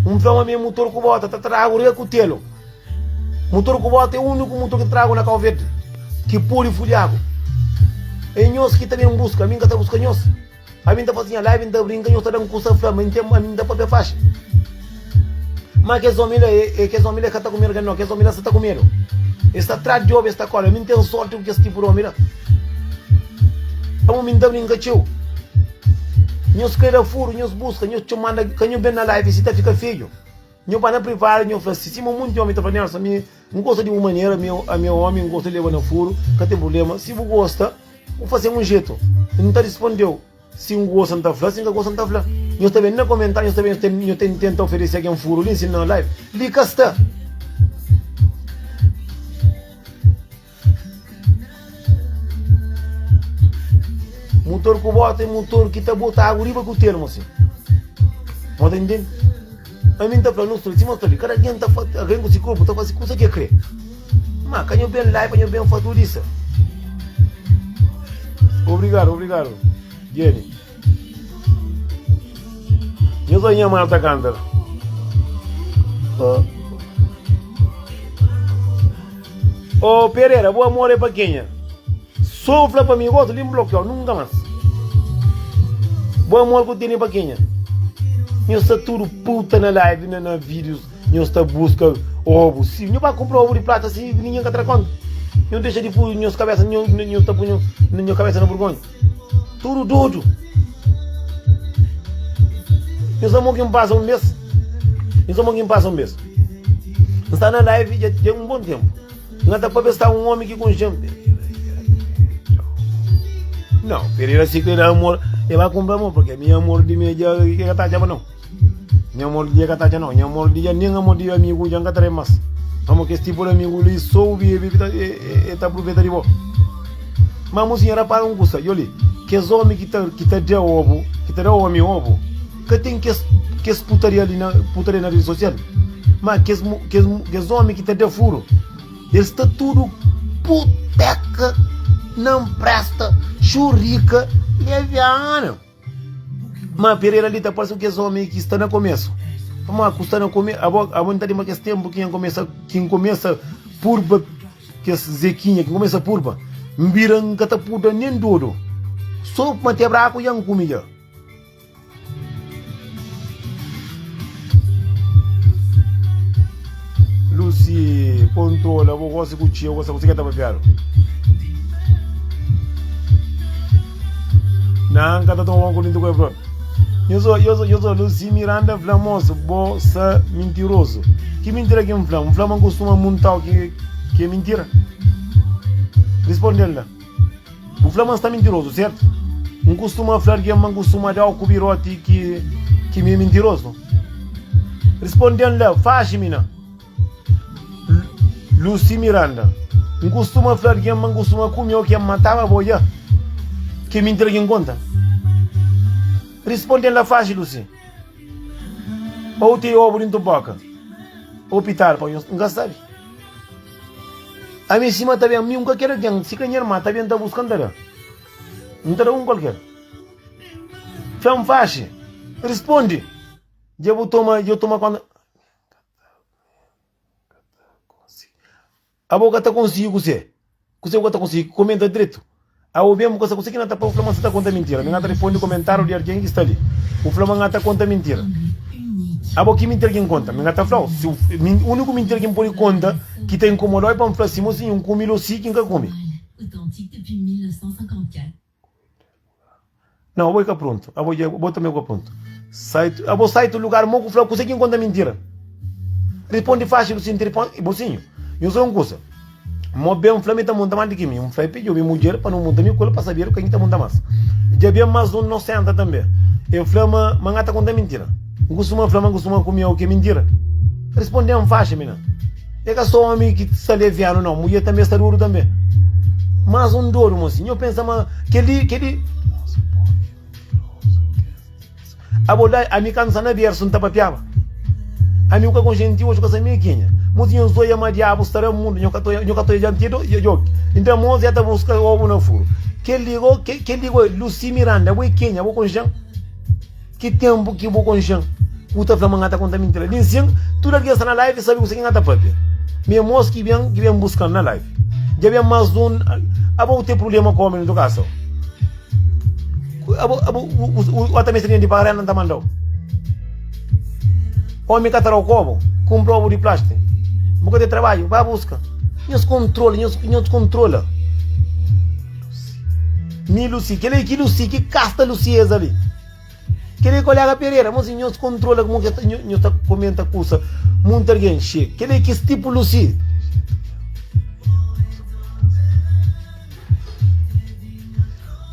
N fla ma mi mutor ku bota ta tragu rei kutelu. Mutor ku bota é úniku mutor ki ta tragu na Kau Verdi, ki pode fudjagu. É nhos ki ta ben buska, ami N ka ta buska nhos. Ami N ta fla si nha live N ta brinka, nhos ta da-m kusa fla ma ami N ta papia faxi. Má kes ómi la é, kes ómi la é ka ta ku medu ka nau, kes ómi la sta ta ku medu. Es sta tras di obi, es ta kóre. Mi N ten sórti ku kes tipu di ómi la. Pamodi mi N ta brinka txeu. Nhos krê da furu, nhos buska, nhos txoma manda ka nhu ben na live si ta fika fedju. Nhu bai na privadu nhu fla si. Sima monti ómi ta fla, Nelson, ami N gosta di bu manera, ami ami é ómi, N gosta di leba na furu, ka ten prubléma. Si bu gosta, bu faze-m un jetu. N ta risponde-u. Si N gosta N ta fla, si N ka gosta N ta fla. Nhos ta ben na komentáriu, nhos ta ben nhos ta tenta oferese algen furu li, nsinal live. Li ka sta. Mutor ku bota é mutor ki ta bota agu riba ku termu si. Nhos ta intende? Ami nta fla nos tudu sima sta li kada algen ta fla algen ku si korpu ta fasi kusa ke kre ma ka nho ben la pa nho ben fla tudu isa obrigadu obrigadu Jenny nho so nha mal ta kantal oh. Ô Pereira, bu amor é pa kenha? Sô bu fla pa mi gosi li N blokiau nunka más Bu amor ku tene pa kenha? Nhos sta tudu puta na live na na videos nhos ta buska obu si nho ba kunpra obu di plata si ninguém ka tra konta nho dexa di pu nhos kabesa nho nho nho ta pu nho nho kabesa na burgonha. Tudu dodu. Nhos amor ki pasa un mes. Nhos amor ki pasa un mes. Nsta na live dja dja un bom tempo. Nga ta papia sta un homem ki kunxem. Não, Pereira se quer amor, ele vai comprar amor, porque minha amor de minha já que tá já não. Nha amor di dja ka ta dja nau. Nha amor di dja nen amor di amigu dja n ka trai mas. Pamo kes tipo di amigu li so u bebe ki ta e ta apruveta di bo. Ma musinha rapara un kusa, djo li, kes omi ki ta ki ta da obu, ki ta da omi obu, ka ten kes kes putaria li na putaria na redi sosial. Ma kes mu kes mu kes omi ki ta da furu, el sta tudu puteka, nan presta, xurika, leviana. Má Pereira li ta parse ku kes ómi ki sta na komésu. Má ku sta na komésu, abo abo n ta lenbra kes ténpu ki N kumesa ki N kumesa purba kes Zekinha, ki N kumesa purba. N bira N ka ta purda nen dodu, sô ma te braku dja N kume dja. Lucy kontrola bo gosi ku txeu gosi kuzê ki el ta papiadu. Nan n ka ta toma banhu ku linti ku el propi. Yo so, yo so, yo so, Lucy Miranda fla, Mosu, bo sa mintirozu. Ki mintira ki n fla? N fla ma n kustuma muntau ki, ki é mintira? Risponde-l la. Bu fla ma N sta mintirozu, sertu? N kustuma fla algen ma N kustuma da-u ku biroti ki ki mi mintirozu? Risponde-m la, faxi mina! Luci Miranda, N kustuma fla algen ma N kustuma kume-u ki N mataba bo dja? Ki mintira ki N konta? Risponde-m la, faxi Luci! Ô bu ten obu dentu boka ô pital pa nhos? N ka sabe. Ami sima ta ben, mi un ka kere algen, si ka nha irma ta ben ta buska, N ta da, N ta da un kualker. Fé N faxi, rispondi, dja bu toma, dja bu toma konta. Abo ka ta konsigi kuse, kuse bu ka ta konsigi, komenta dretu. Aô ben, bu ka sa kuse ki na ta poi bu fla ma N sta ta konta mintira. Mi na ta responde komentáriu di algen ki sta li. Bu fla ma N ta konta mintira. Abo, ki mintira ki N konta? Mi na ta fla-u, si úniku mintira ki N pode konta ki ta inkomoda-u é pa N fla sima, si N kume-l ô si ki N ka kume. Não, abo ka pronto. Abo, abo também ka pronto. Sai, abo sai tu lugar mo ku fla kusa kin konta mentira. Responde fácil sin telefone e bolsinho. Eu sou um coisa. Mo bem fla mi ta monta mais do que mim. Um fla pedi eu mulher para não monta mi cola para saber quem ta monta mais. Já bem mais um não senta também. Eu fla ma mangata conta mentira. Costuma fla ma costuma comer o que mentira. Respondem fácil, menina. E ka so omi ki sta levianu nau, mudjer tanbe sta duru tanbe. Mas un dodu mo si, nho pensa ma kel-li, kel-li. Abo da, ami kandu sta na bersu, N ta papiaba. Ami ku ka konxe N ti, oxi ku ka sa mi e kenha. Mo si nho zoia ma diabu sta ra mundu, nho ka ta, nho ka ta oja dianti do, djo, djo. Nta mo si e ta buska obu na furu. Kel-li go, kel-li go, Lusi Miranda, abo e kenha? Abo konxe-m? Ki tenpu ki bu konxen ku ta fla ma nha ta konta minti la bin sin tudu algen sta na live sabi kuse ki nha ta papia mi e mos ki ben ki ben buskan na live dja ben mas di un aba u ten problema ku omi na to kasa aba aba u ata meste denti pa arena nta mandau omi ka ta dau kobu kun probu di plastik bu ka ten trabadju ba buska nhos kontrola nhos kontrola mi lusi kila ki lusi ki kasta lusieza li. Kele kolega Pereira, mas nhos kontrola kmo ke ta nhos ta komenta kusa munt argen xe. Kele ki stipu Lusi.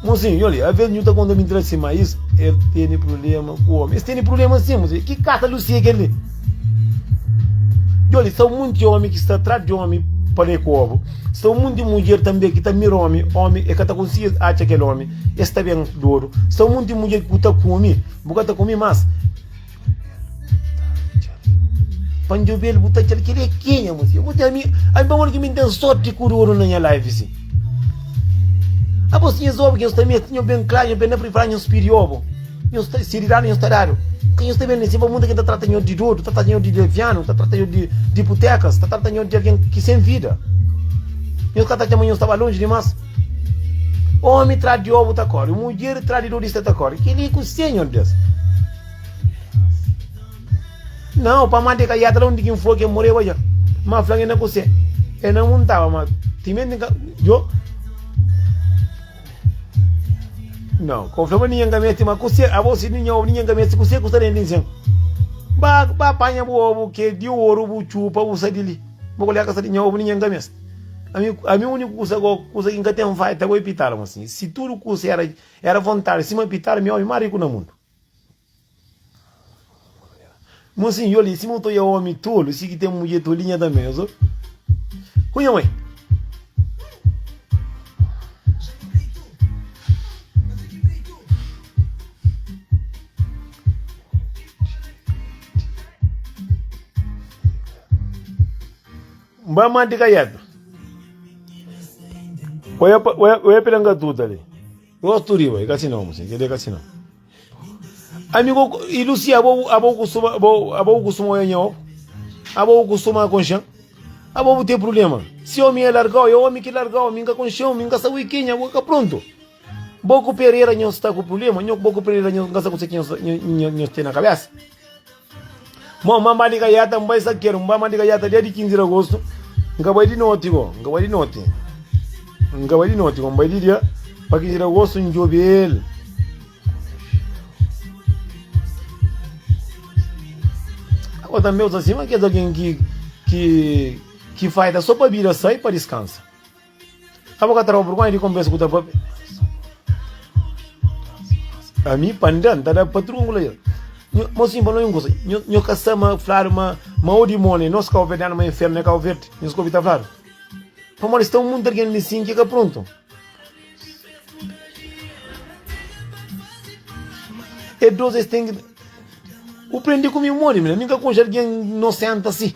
Mozinho, nho li, aves nhu ta konta mintira si ma is el tene problema ku omi. Es tene problema si, mozinho. Ki kasa Lusi e kele? Nho li, sta un monti omi ki sta atras di omi pa le kobu. Sta un monti mudjer tambe ki ta mira omi, omi e ka ta konsigi atxa kele omi. Es ta ben dodu. Sta un monti di mudjer ki bu ta kume, bu ka ta kume mas. Pa njobel, bu ta txal ki é ki nha mudjer. Mudjer, ami, ami pa modi ki mi ten sorti ku dodu na nha life si. Apos, nhas obi ki nhos ta mete, nhos ben klaru, nhos ben na pripara, nhos pidi obo. Nhos ta, si dadu, nhos ta dadu. Ka nhos ta ben li, si pa munda ki ta trata nhos di dodu, ta trata nhos di levianu, ta trata nhos di, di putekas, ta trata nhos di algen ki sem vida. Nhos ka ta txama nhos ta ba lonji dimas. Omi tras di obu ta kori, mudjer tras di nudista ta kori. Ki li ku se, nhon Deus? Nau, pa mante ka yata la undi ki N fla ki e moreba ja. Ma fla-m e na ku se. E na muntaba, ma timenti N ka. Jo. Nau, ka bu fla ma ninhen ka meste, ma ku se, abo si ninhen obu, ninhen ka meste ku se ku sta denti di nsen. Ba, ba panha bu obu ke di oru, bu txupa, bu sa di li. Bo k'olhar ka sa di nha obu ni nha nkames. Ami, ami uniku kusa go, kusa ki nka ten fai ta go e pitala mo sin. Si tudu kusa era, era vontadi sima pitala, mi omi ma riku na mundu. Mo sin, yoli, sima uto ya omi tolu, si ki ten mudje tolinha tambe, ozo. Ku nha mãe. Mba manti ka yeta. Oya pa oya oya pela nga tuta ali. Nós tu riba, e kasi não, você entendeu? Kasi não. Amigo, e Lucia, abo abo costuma abo abo costuma oya nhau. Abo costuma com chão. Abo tem problema. Se homem é largau, é homem que largau, minga com chão, minga sa wiquinha, boca pronto. Bo ku Pereira nhos sta ku problema? Nho bo ku Pereira nhos nka sa kuse ki nhos ten na kabesa? Mo nba mba di kaiata nba isakeru nba mba di kaiata dia di 15 di agosto nka bai di noti go nka bai di noti nka bai di noti go nbai di dia pa 15 di agosto njobel ago tambe usa sima kes algen ki ki ki faida so pa bira sai pa diskansa. Ka bu ka ta roba por konta di konpensa ku ta pa be. A mi pa nda, nta da patrun ku la ya. Mo sin pa no un kusa, nho ka sa ma fladu ma ma o dimoni nos kauverdianu ma infernu e Kauverdi, nhos ka obi ta fladu? Pamodi sta un monti algen li sin ki ka prontu. E dos es ten ki. Bu prendi ku mi modi mi la, mi ka konxe algen inosenti asi.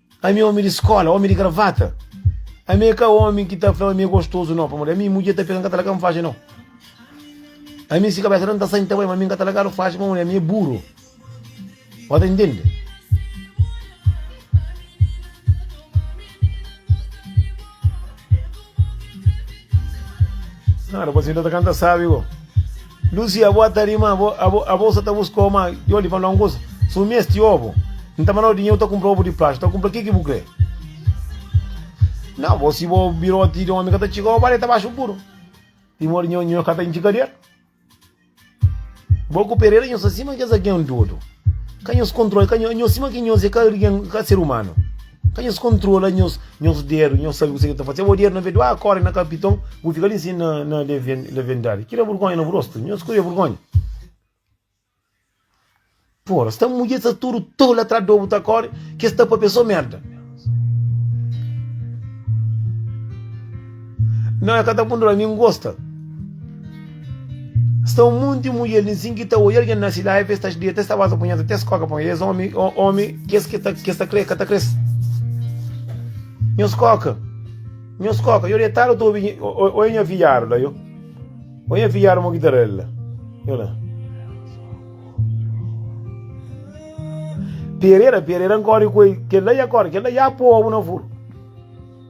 Ami é omi di skola, omi di gravata. Ami é ka omi ki ta fla ami é gostozu, nau. Pamodi ami, mudjer ta pega, N ka ta laga, N faxi, nau. Ami, si kabesa ta N ta sai, N ta bai, ma ami N ka ta lagadu faxi, pamodi ami é buru. Bo ta intende? Nada, bo sinta ta kanta sabi go. Lusi abo ata ri ma abo abo sa ta buska oma yo li fala un kusa su mi es ti obo n ta mandau dinheru ta kumpra obo di plástiku ta kumpra ki ki bu kre na bo si bo biroti di omi ka ta txiga oba li ta baxu puru i modi nho nho ka ta intxi kader bo ku pereira nho sa sima kes algen dodu ka nhos kontrola ka nho nho sima ki nhos e ka algen ka ser umanu Ka nhos kontrola nhos nhos dedu, nhos sabe kuzê ki ta fase. Bo dedu na be duâ kóre na kapiton, bu fika li sin na na levendadi. Ki da burgónha na bu rostu? Nhos kuê burgónha? Pora, sta mudjer sta tudu tolu atrás di obu ta kóre, kes sta papia sô merda. Nau e ka ta kontrola, mi N gosta. Sta un monti mulher ninsin ki ta oia alguém na cidade, vê sta deita, sta basa punheta, até skoka pão. Eles homem, homem, que que tá, que está crê, que tá crê. Nhos coca, nhos coca. Eu deitado tô ouvindo, olha minha viário lá, eu. Olha minha viário, uma guitarrela. Eu lá. Pereira, Pereira, corre com ele, que lá ia corre, que lá ia povo na furo.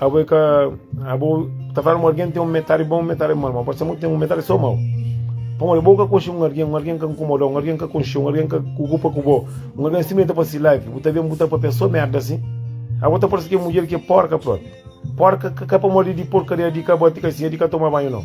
Abo é ka. Abo ta fala ma algen ten un metadi bon, un metadi mau, ma pode ser ma ten un metadi sô mau. Pamodi bo ka konxe un algen, un algen ka nkomoda, un algen ka konxe, un algen ka kukupa ku bo, un algen simplesmenti ta fase live, bu ta ben bu ta papia sô merda asin. Abo ta parse ki é mudjer ki é porka prôpi. Porka ka pamodi di porkaria di ka ba ti ka sin, é di ka toma banhu nau.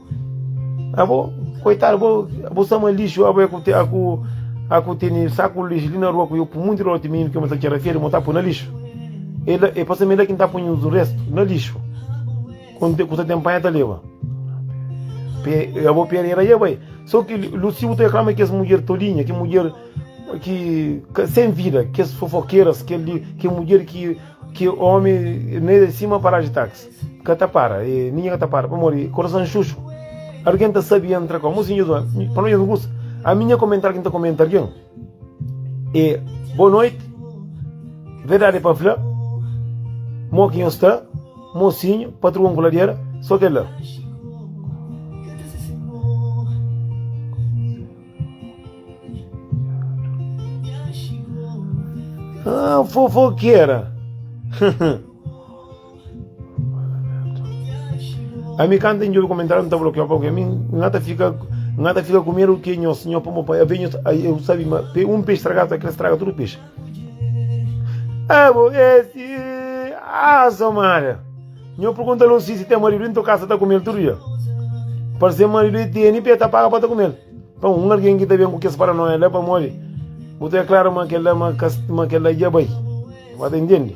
Abo, koitadu, abo, abo sama lixu, abo é ku te, aku, aku teni saku lixu li na rua ku eu pu muito lote menino que eu mata kera feira, mota pu na lixu. Ele, e passa mele que tá punho do resto na lixu. Quando te custa tempo tá leva. Eu vou perder aí, vai. Só que Lucio te reclama que as mulher tolinha, que mulher que sem vida, que as fofoqueiras, que que mulher que que homem nem de cima para de táxi. Ka ta para, e ninha ka ta para, pamodi korason xuxu. Argen ta sabi entra ko musi nhu zona, pa nós nhu gusta. A minha comentar quem ta comentar quem. E boa noite. Verdade para falar. Mo quem está, mocinho, patrão coladeira, só que lá. Ah, fofoqueira. Ami kan ta njobi komentáriu mi ta blokiau pa mi nga ta fika nga ta fika ku medu ke nhos nho pa mo pa ave nhos eu sabi ma pe un peixe stragadu ta kre straga tudu peixe abo esi asa mara nho pergunta lo si si tem marido into casa ta kumel tudo dia para ser marido e teni pe ta paga para ta kumel pa um alguém que ta bem com que para nós é lá para mole botou é claro ma que lá ma que lá já vai vai entende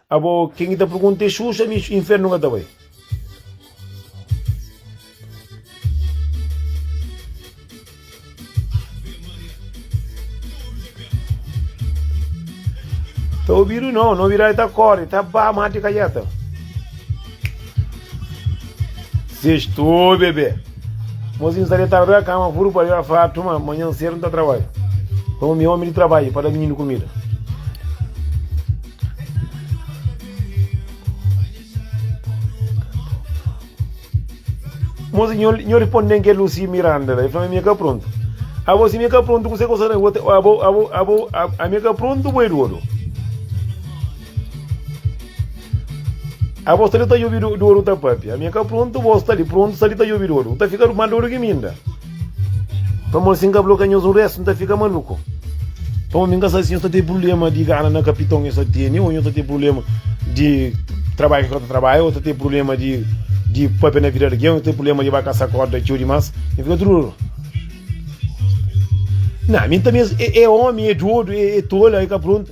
Abo ken ki ta pergunta é Xuxa mi infernu ka ta bai. Tá ouvido não, não virá tá corre, tá bá, mate calheta. Sextou, bebê. Mozinho está deitado na cama, furo para a fato, mas amanhã cedo não tá trabalho. Vamos me homem de trabalho para dar menino comida. Mosi, nho, nho riponde-m kel Lusi Miranda la, e fla-m ami e ka prontu. Abo, si mi e ka prontu, kuse ku sara abo, abo, abo, abo, ami e ka prontu, bo e dodu. Abo sta li ta djobi dodu ta papia, ami e ka prontu, bo sta li prontu, sta li ta djobi dodu, bu ta fika mal dodu ki mi inda. Pamodi si N ka blokia nhos un restu N ta fika maluku. Pamodi N ka sa si nhos ta ten prubléma di gana na kapiton nhos ta tene ô nhos ta ten prubléma di trabadju ki nhos ka ta trabadja ô ta ten prubléma di di pâpia na vida di algen ô ten prubléma di ba kasa kórda txeu dimás. N fika tudu ruru. Nau, mi N ta meste. E, e omi, e dodu, e, e tola, e ka prontu.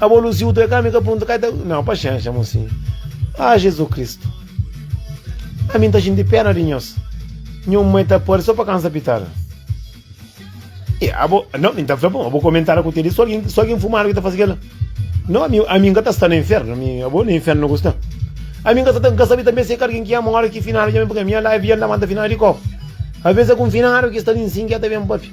Abo luziu tu é ka mi ka punta ka Não, paciência, mocinho. Ah, Jesus Cristo. A mim tá gente pena de nós. Minha mãe tá por só para cansa pitada. E abo, não, me tá falando, abo comentar com ele, só alguém, só alguém fumar que tá fazendo aquela. Não, a mim, a mim tá está no inferno, a mim, abo no inferno não gosta. A mim tá tá sabe também se carguem que é uma hora que final, já me porque minha live já não manda final de copo. Às vezes é com final que está em sim que até bem papi.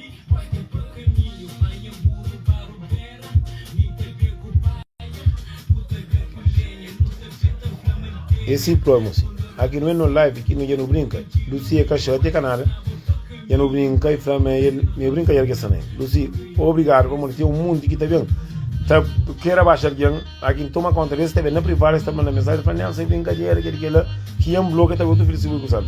E si promo si. Aki nu é no live ki nu dja nu brinka. Luci é ka xótia ka nada. Dja nu brinka i fla ma é el mê brinkader ki es ta na el. Luci, obrigadu pamodi ten un monti ki ta ben ta kre rabaxa algen. Aki N toma kónta des, ta ben na privadu es ta manda mensajen fla, Nelson, é brinkader, kel-li, kel-la. Ki N blokia ta ben otu filha si bu é kuzadu.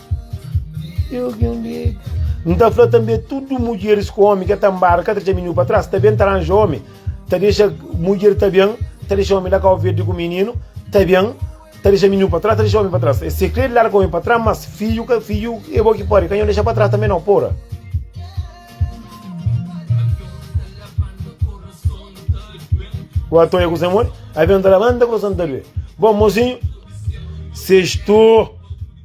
N ta fla tanbe, tudu mudjeris ku ómi ki el ta nbada ka ta txaminhu pa tras, ta ben ta ranja ómi, ta dexa mudjer, ta ben ta dexa ómi la kau verdi ku mininu, ta ben ta dexa mininu pa tras, ta dexa ómi pa tras. Es sikrê di larga ómi pa tras, mas fidju ka fidju é bo ki pode, ka nho dexa pa tras tanbe nau, pora. Ku Atoia ku Semoni, avion ta labanta, kurason ta due, bon mozinhu, sextou.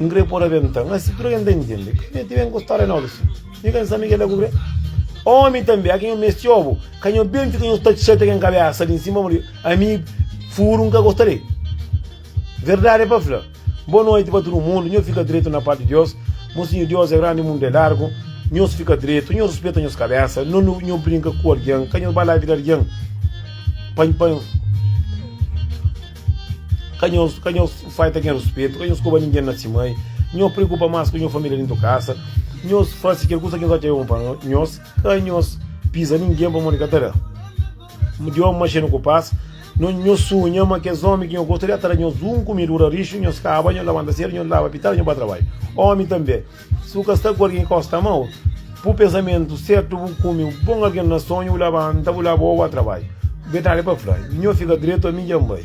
N kre pô-l abenta. Má si tudu algen ta intende. Ka mete ben ku stória nobe si. Mi ka N sabe kel-la ku kre. Ómi tanbe, a ken N meste obu, ka nho ben fika nho tatxa ta ken kabésa li nsima pamodi ami furu N ka gosta de. Verdadi pa fla, Bô noti pa tudu mundu, nho fika dretu na pátio di Diós, Mo Sinho Diós é grandi, mundu é largu, nhos fika dretu, nho ruspeta nhos kabésa, no nu nho brinka ku algen, ka nho ba la vida algen pa, pa. Ka nho ka nho faita ken ruspetu, ka nho skoba ningen na si mai, nho preokupa mas ku nho familia dentu kasa, nho fasi kel kusa ki es atxa é bon pa nhos, ka nho piza ningen pamodi nho ka ta da di omi ma xenu ku pas. Nho sunha ma kes omi ki nho gosta li a ta da nhos un kumidura rixu, nho skaba, nho labanta sedu, nho laba pitara, nho ba trabadju. Omi tanbe. Si bu ka sta ku algen ki gosi ta ama otu, pur pensamentu sertu bu kume un bon algen na sonhu, bu labanta, bu laba oba trabadju. Bu ben tali pa fla, Nhos fika dretu, ami dja N bai.